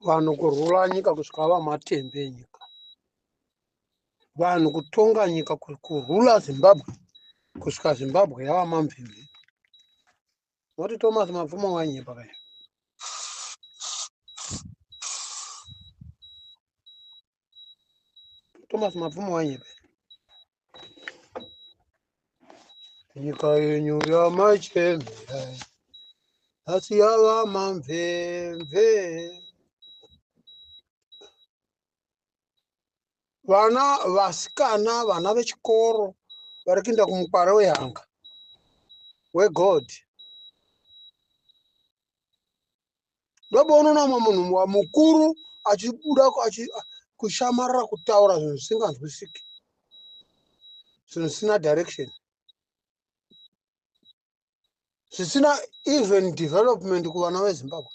vanhu kurwula nyika kusvika vava matembe enyika vanhu kutonga nyika kurwula zimbabwe kusvika zimbabwe yava mamvimbi moti thomas mapfumo wanyepa kayo Thomas Mapfumo wanyepe. Nyika yenyu yamachembera asi yava mamvemve. Vana vasikana, vana vechikoro vari kuenda kumukwara wehanga wegod ndoboona umwe munhu mukuru achibuda kushamarira kutaura zvinhu zvisinganzwisiki zvinhu zvisina direction zvisina even development kuvana vezimbabwe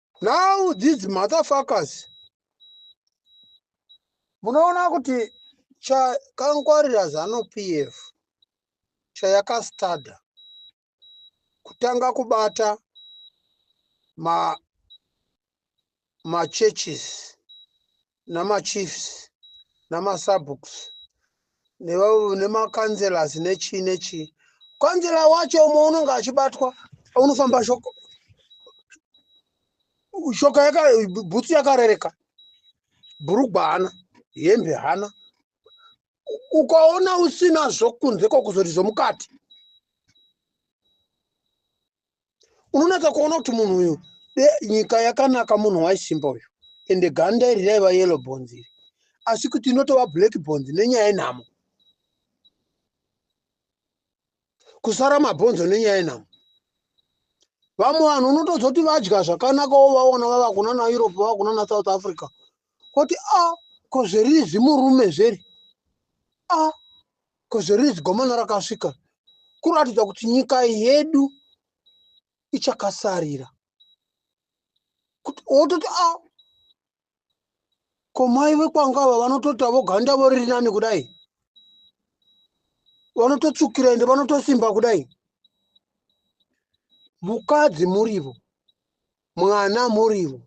now these motherfuckers munoona kuti chakangwarira zanu pf chayakastada kutanga kubata ma machurches namachiefs namasabooks neva- nemacancelors nechii nechii kansela wacho umwe unenge achibatwa unofamba shoko shoka yaka bhutsu yakarereka bhurugwa hana hembe hana U- ukaona usina zvokunze kokuzoti zvomukati unonaka kuona kuti munhu uyu nyika yakanaka munhu waisimba uyu ende ganda iri raiva yelo bonzi iri asi kuti inotova black bonzi nenyaya yenhamo kusara mabhonzo nenyaya yenhamo vamwe vanhu unotoziva kuti vadya zvakanaka wo vaona vava kuna na europe vava kuna na south africa koti a ah, ko zveriri zvimurume zveri a ah, Kozoriri zigomono rakasvika kuratidza kuti nyika yedu ichakasarira kuti wototi a ah, komai vekwanga ava vanotota voganda voriri nani kudai vanototsukira ende vanotosimba kudai mukadzi murivo mwana murivo,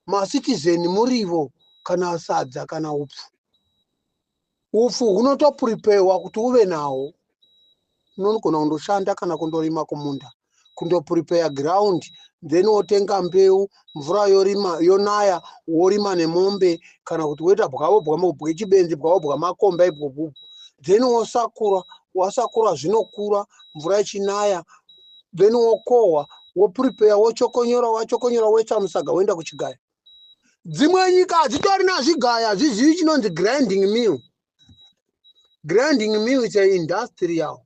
macitizen murivo kana sadza kana upfu. Upfu hunotoprepaywa kuti uve nawo. Unogona kundoshanda kana kundorima kumunda, kundoprepaya ground then wotenga mbeu, mvura yorima yonaya worima nemombe kana kuti woita bwavo bwechibenzi bwavo bwamakomba ibwobubu then wosakura wasakura zvinokura mvura ichinaya then wokohwa woprepare wotshokonyora watshokonyora woisa musaga woenda kuchigaya dzimwe nyika hadzitori nazvigaya hazvizivi chinonzi grinding mill grinding mill is a industrial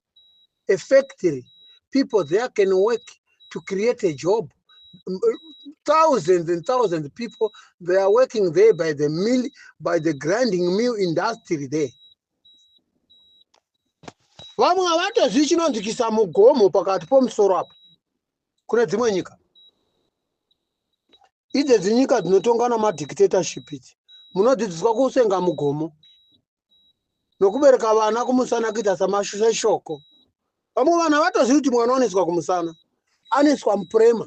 a factory people there can work to create a job thousands and thousands of people they are working there by the mill by the grinding mill industry there vamwe havatozii chinonzi kisa mugomo pakati pomusoro apo kune dzimwe nyika idzedzi nyika dzinotongwa namadictatorship idzi munodzidziswa kusenga mugomo nokubereka vana kumusana kuita samashoko vamwe vanhu havatozivi kuti mwana oneswa kumusana aneswa mupurema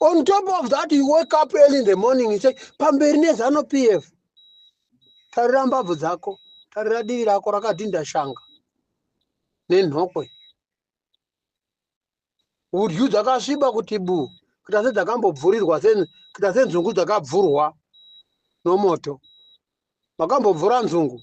on top of that you wake up early in the morning you say pamberi nezano p f tarira mbabvu dzako tarira divi rako rakadhinda shanga nenhokwe hudyu dzakasviba kuti bu kuita sedzakambobvurirwa kuita senzungu dzakabvurwa nomoto makambobvura nzungu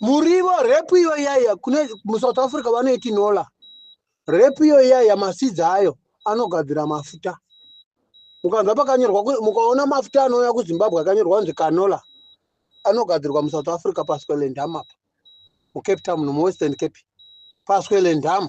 murivo repu iyo iyaiya kune musouth africa vanoiti nola repu iyo iyaiya masidzi ayo anogadzira mafuta mukanzwa pakanyorwa mukaona mafuta anouya kuzimbabwe akanyorwa kunzi canola anogadzirwa musouth africa pasquelendam apa mucape town nomwestern cape pasquelendam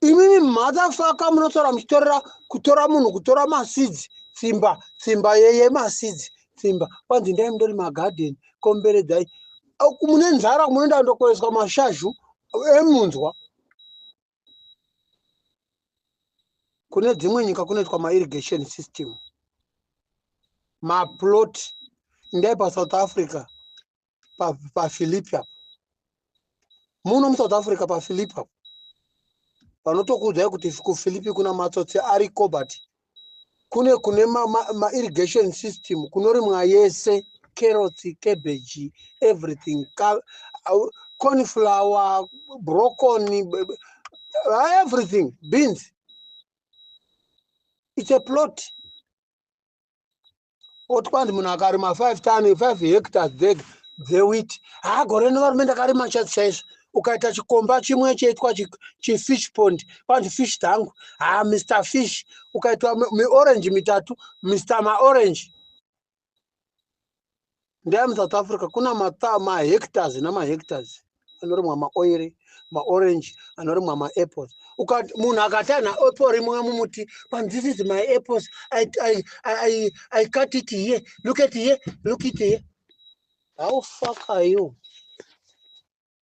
imimi mhadhafaka munotaura muchitorera kutora munhu kutora masidzi tsimba tsimba yemasidzi tsimba kwanzi ndai mundori magadheni komberedzai mune nzara munoenda ndokoreswa mashazhu emunzwa kune dzimwe nyika kunoitwa mairrigation system maplot ndai pasouth africa pafilipi apo muno musouth africa pafilipi apo vanotokuudzai kuti kufilipi kuna matsotsi ariko but kune kune mairrigation ma, ma system kunorimwa yese carrots cabbage everything ka, uh, cornflower broccoli uh, everything beans it's a plot oti kwanzi munhu akarima five ton five hectars dzeg dzewit haa gore rino varume ndakarima chaizi chaizvo ukaita chikomba chimwe chaitwa chifish pond kwanzi fish dzangu haa mr fish ukaitwa miorange mitatu mr maorange ndaya musouth africa kuna mahectors nemahectors anorimwa maoiri maorange anorimwa maapples munhu akati ana apple rimwe mumuti but this is my apples I, I, I, I cut it here look at here look it here how fuck are you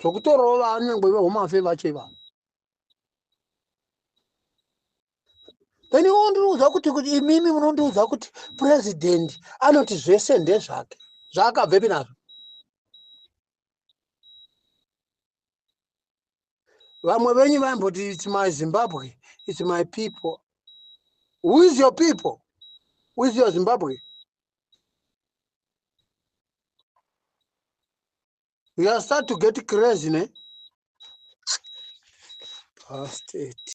zvokutorova nyangwe vehome afe vacho ivavo then iwo ndiriudza kuti kuti imimi munondiudza kuti president anoti zvese ndezvake zvaakabvepi nazvo vamwe venyu vaimboti its my zimbabwe its my people who is your people who is your zimbabwe you are start to get crazy ne Past it.